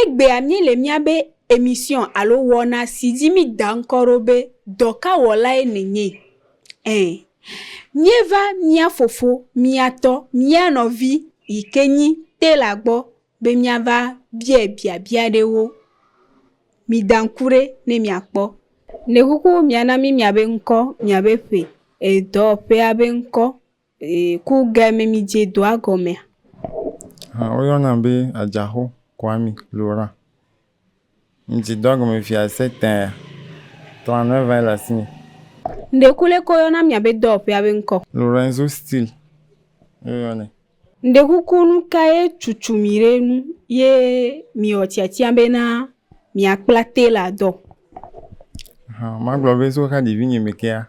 Egbea míele míabe emisiɔ̃ alo wɔna si dzi míeda ŋkɔ ɖo be Dɔkawɔlae Nènye? ɛ míeva mía fofo, mía tɔ, mía nɔvi yi ke nyi Taylor gbɔ be míava biae biabia aɖewo. Mida ŋku ɖe ne miakpɔ. Le xoxo miana mí miabe ŋkɔ, miabe ƒe, e dɔwɔƒea be ŋkɔ, Ee, ku ge me mi dze doa gɔmea. Hã wo yɔ na be adzaxo Kwame Lora. Mi dze doa gɔme fia se tɛa. Tɔa nɔɛ va yi le asi mi. Ŋɖe ku le ko yɔ na mia be dɔwɔ ƒea be ŋkɔ. Lorenzo Steel yo yɔ nɛ. Ŋɖe ku ku nu ka ye cucu mi ɖe nu ye mi wɔ tiatia be na mia kpla Taylor dɔ. Hã ma gblɔ be so xa ɖevi nye me kea.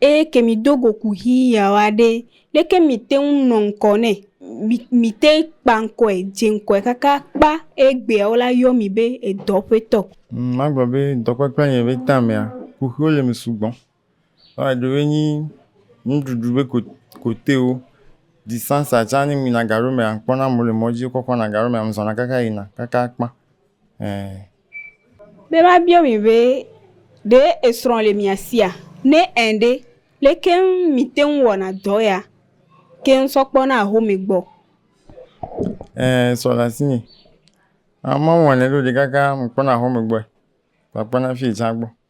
Eye ke mìdo go kuxi yaoa ɖe, leke mìte ŋu nɔ ŋkɔ nɛ? Mi, mìte kpa ŋkɔe, dze ŋkɔe kaka kpa eye egbea wola yɔ mì be edɔ ƒe tɔ. Ŋ, magblɔ be dɔkpekpea nye be ta mea, kuxiwo le eme sugbɔ. Vɔa eɖewoe nyi nuɖuɖu be ko, kotewo, disansa tsã ne mìyina gaɖewo mea, ŋkpɔna amewo le mɔdzi wokɔkɔna gaɖewo mea, mizɔna kaka yina kaka kpa. Ɛɛ. Be ma biɔ mi be, ɖe esrɔ le mia sia? Ne ẽ ɖe, leke ŋu mi te ŋu wɔna dɔ ya keŋ sɔ kpɔna ahome gbɔ? Ẽ srɔ le asinye. Amewo wɔnɛ ɖo ɖe kaka mi kpɔna ahome gbɔe. Kpakpana fiyi tsã gbɔ.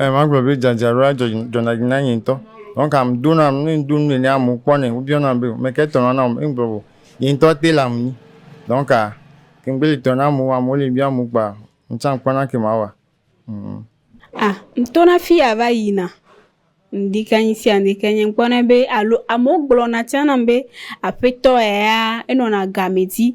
Eee magblɔ be dzadzraɖoa dzɔ dzɔna dzi na nye ŋutɔ. Nɔ̃ kam do na nu ne ŋdo nu nɛnɛ amewo kpɔnɛ wobiɔ nam be meke tɔ nɔna wɔm ye ŋgblɔ be nye ŋutɔ tailor menye. Donc ke ŋgbe le tɔ na amewo amewo le biɔm kpoa ŋtsã kpɔna ke mawa. A ŋtona fiya va yina ŋdikɔ ŋdi sia ŋdi ke nye ŋkpɔnɛ be alo amewo gblɔna tsã nam be aƒetɔ eya enɔna gamɛ dzi.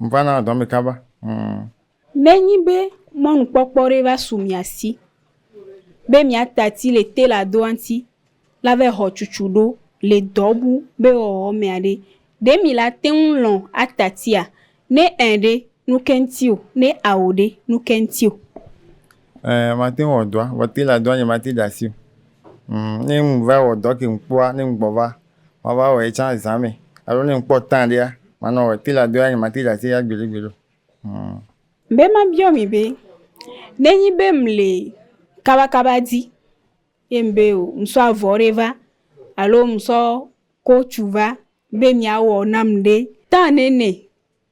Mva na dɔ mi kaba. Mm. Nenyi be mɔnukpɔkpɔ ɖe va su mia si be miata ti le tailor doa ŋuti la va xɔ cucu ɖo le dɔ bu be wɔwɔ mea ɖe, ɖe mi la te ŋu lɔ̃ ata tia? Ne ẽ ɖe, nuke ŋuti o? Ne ao ɖe, nuke ŋuti o? Ẽ, mate ŋu wɔ dɔa, vɔ tailor doa nye mate ɖe asi o. Mm, ne ŋu va wɔ dɔ ke ŋu kpɔa, ne ŋu gbɔ va. Mava wɔe tsã zã me alo ne ŋkpɔ temps ɖea, manɔ wɔe. Pila doa nye mate ɖe asi ya gbeɖe gbeɖe o. Hum. Be mabiɔ mi be, ne nyi be mle kabakaba di ye ŋbe o, ŋsɔ avɔ ɖe va alo ŋsɔ kotsu va be mia wɔ nam ɖe? Temps nene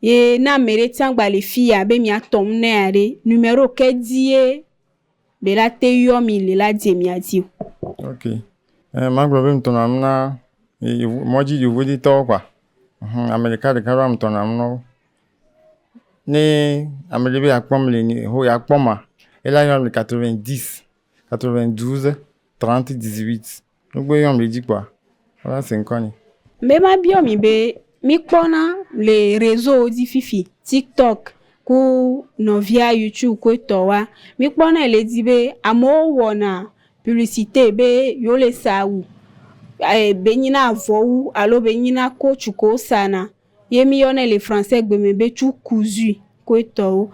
Ye ne ame ɖe tsã gba le fi ya be mia tɔ nu ne ya ɖe, numero ke dzi ye be la te yɔ mi le la dze mia dzi o. Ok. Eh, ma gblɔ be mi tɔ na nu na mɔdzi yovodi tɔwo kpa. Hum, ame ɖeka ɖeka ɖo ame tɔ na nu na wo. Ne ame ɖe be ya kpɔm le ni ho ya kpɔm ma, ela yɔ mi le 90 92 30 18. Nugbe yɔm ɖe dzi kpɔa, wova se ŋkɔ ni. Be ma biɔ mi be, mi kpɔna le reseau wo dzi fifi, tiktok ku nɔvia youtube ku etɔ wa, mi kpɔnɛ le dzi be amewo wɔna publicite be yewo le sa awu, be nyina avɔwu alo be nyina coach ke wo sana ye mi yɔnɛ le français gbe me be cu cousue ku etɔwo.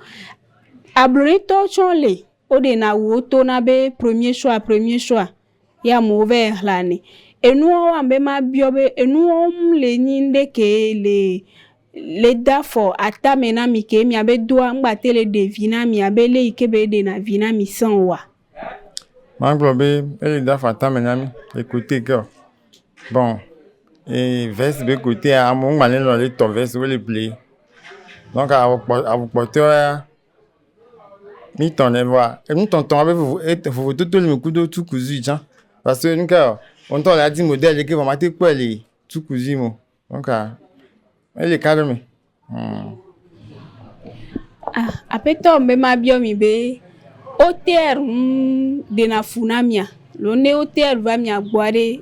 Abloɖetɔwo tsɛ wo le, wo ɖena awu wo tona be premier choix, premier choix. Ye amewo va yi xlẽanɛ. Enuwo wɔam be mabiɔ be enu wɔm le nyi ŋɖe kee le le do afɔ atame na mi ke miabe doa ŋgbate le ɖe vi na mi abe lé yi ke be eɖena vi na mi sẽ oa? Magblɔ be ele do afɔ atame na mi le kote ke o. Bon e vɛsi be kotea amewo ŋgba le lɔ̃ le tɔ vɛsiwo le pliye. Donka awu kpɔ awu kpɔtɔea Mi tɔ nɛ vɔa, enu tɔtɔ abe vovo et vovototo li kudo tukuzui tsã. Parce que nu kae ɔ wò ŋutɔ wòle adi modèle ɖe ke vɔ mate kpɔɛ le tukuzui me o. Donc ah ele ka ɖe me. Humm. Ah aƒetɔ be mabiɔ mi be OTR ŋu ɖena fu na mia? Alo ne OTR va mia gbɔa ɖe,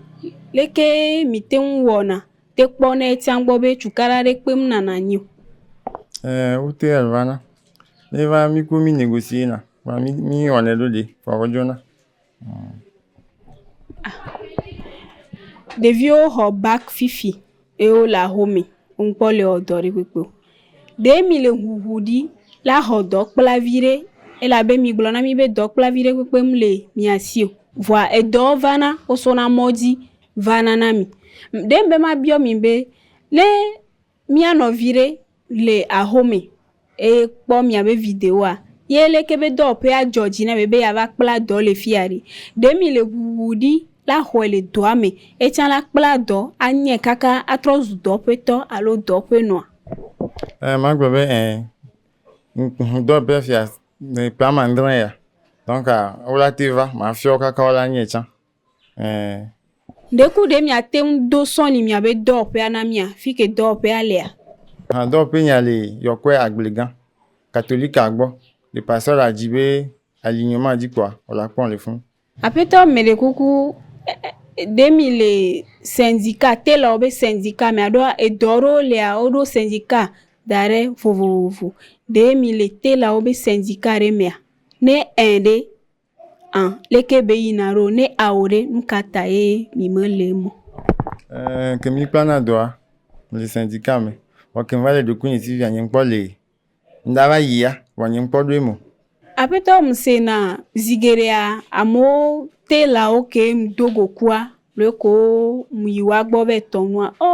leke mìte ŋu wɔna? Te kpɔ ne etia gbɔ be cukaɖa ɖe kpem na nanyi o. Ɛɛ, wote evana. Ne va mi ku mi negosiena. Vɔa mi mi wɔnɛ ɖo ɖe vɔa wodzona. Ɖeviwo xɔ bag fifi ye wole axome. Woŋkpɔ le wɔ dɔ ɖe kpekpe o. Ɖe mi le ŋuŋu ɖi la xɔ dɔ kpla viɖe elabe mi gblɔ na mi be dɔ kpla viɖe kpekpe mle mia si o. Vɔa edɔ vana wosɔna mɔdzi. va na na mi. Ɖe mebe mabiɔ mi be, ne mía nɔvi ɖe le ahome eye kpɔ miabe videoa, ye leke be dɔwɔƒea dzɔ dzi na mi be yeava kpla dɔ le fiya ɖi? Ɖe mile ŋuŋu ɖi la xɔe le dɔa me etsã la kpla dɔ anyae kaka atrɔ zu dɔ ƒe tɔ alo dɔ ƒe nɔa? Ẽ, magblɔ be ẽ. Dɔwɔƒea fiya ƒe amãdrẽ ya, donc wo la te va, mafiɔ wo kaka wo la anyae tsã. Ɛɛ. Ɖeku ɖe miate ŋu do sɔ ni miabe dɔwɔƒea na mia fike dɔwɔƒea lea? Hã dɔwɔƒe nya li yɔkɔe agble gã katolika gbɔ le pasteur la dzi be ali nyɔ ma dzi kpɔa o la kpɔm le fun. Aƒetɔ meɖe kuku ɖe mi le sɛnzika telɔ wo be sɛnzika mea ɖoa edɔ ɖewo lea wo ɖo sɛnzika da ɖe vovovovo ɖe mi le telɔ wo be sɛnzika ɖe mea ne ɛɛ ɖe A, leke be yi na ɖo ne ao ɖe nukata ye mi me le mo. Eee ke mi kpla na dɔa mi le sɛnti ka me vɔ ke va le ɖoku nye tivi a nye ŋkpɔ lee mi da va yi ya vɔ nye ŋkpɔ ɖoe mo. Aƒetɔ mi se na zi geɖea amewo te lawo ke mi do gokua Ɖe ko yi woa gbɔ be tɔ nua ɔ,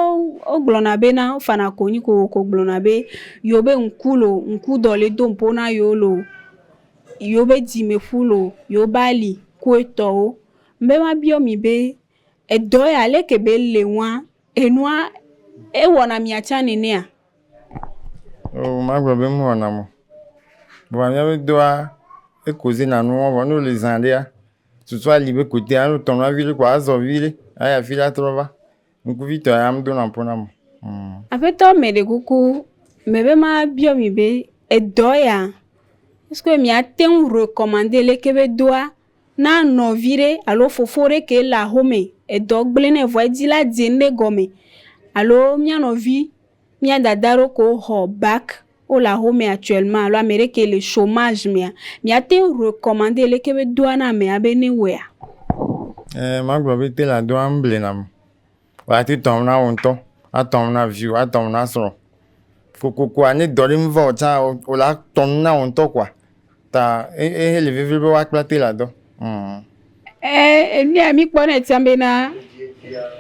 wo gblɔ na be na wo fana konyi ko wo ko gblɔ na be yewo be ŋku lo, ŋku dɔ le do ŋpo na yewo lo, yewo be dzi me ƒu lo, yewo be ali ku etɔ wo. Ŋbe ma biɔ mi be edɔ ya leke be le nua, enua ewɔ na mia tsã nenea? O ma gblɔ be me wɔ nam o. Vɔa mia be dɔa eko ze na nuwo vɔ ne wo li zã ɖea Susu ali be ko te alo tɔnɔ avi ɖe ko azɔ vi ɖe ayi afi ɖe atrɔ va. Ŋkuvi tɔ ya ame dona ƒo na mo. Hmm. Aƒetɔ me ɖe kuku me be ma biɔ mi be edɔ ya esko mi ate ŋu recommande le ke be doa na nɔvi ɖe alo fofo ɖe ke le axome edɔ gble nɛ vɔ edi la dze ŋɖe gɔme alo mia nɔvi Mia dada ɖo ko xɔ bac wo le axome actuellement alo ame ɖe ke le chomage mea mia te ŋu recommande leke be doa na amea be ne wɔea? Eee ma gblɔ be tailor doa ŋble na ame. Vɔa ate tɔ ŋu na wò ŋutɔ, atɔ ŋu na viwò, atɔ ŋu na srɔ̃. Kokoko ne dɔ ɖe meva wò tsã o la tɔ ŋu na wò ŋutɔ kpɔa Ta ehe le vevie be woakpla te la dɔ. Ee, enea mi kpɔ ne tia be na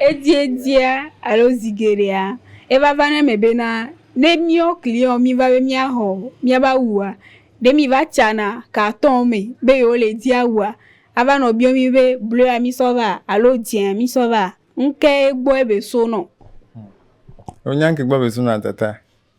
edzedzia alo zi geɖea eva va ne me be na ne miɔ kliɔ mi va be mia hɔ mia ba wua, ɖe mi va tsana katɔn me be yewo le dzi awua, ava nɔ biɔ mi be blɔa mi sɔ va alo dzea mi sɔ va, ŋke gbɔ ebe so nɔ. Wonya ŋke gbɔ be so nɔ tata.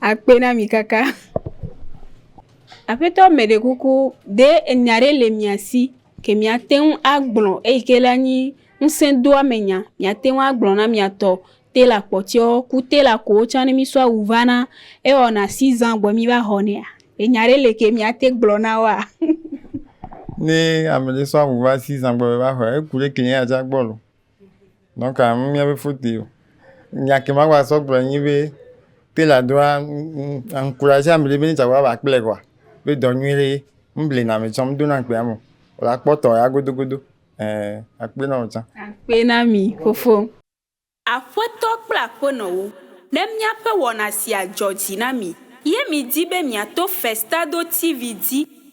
akpe na mi kaka. Aƒetɔ meɖe kuku ɖe enya ɖe le mia si ke miate ŋu agblɔ eyi ke la nyi ŋusẽdoamenya. Miate ŋu agblɔ na mia tɔ telor kpɔtɔewo ku telor kowo tsɛ ne mísɔ awu va na ewɔna sizan vɔ míva xɔnɛa? Enya ɖe le ke miate gblɔ na woa? Ne ame ɖe sɔ awu va sizan gbɔ be va xɔɛ, eku ɖe kli ye atsɔ agbɔ loo. Donka mía be foto ye o. Nya ke ma gba sɔ gblɔ nyi be tela do a ŋ ŋ aŋkurazi amɛ ɖe be ne tsa va va kplɛ koa be dɔ nyui ɖe ye. Ŋ ble na amɛ tsã ŋ do na amɛ amɛ o. Vɔ la kpɔ tɔ ya godo godo ɛɛ a kpe na wò tsã. Akpe na mi fofo. Aƒetɔ kple Aƒenɔwo, ne míaƒe wɔna sia dzɔ dzi na mi ye miedi be miato Festado TV dzi,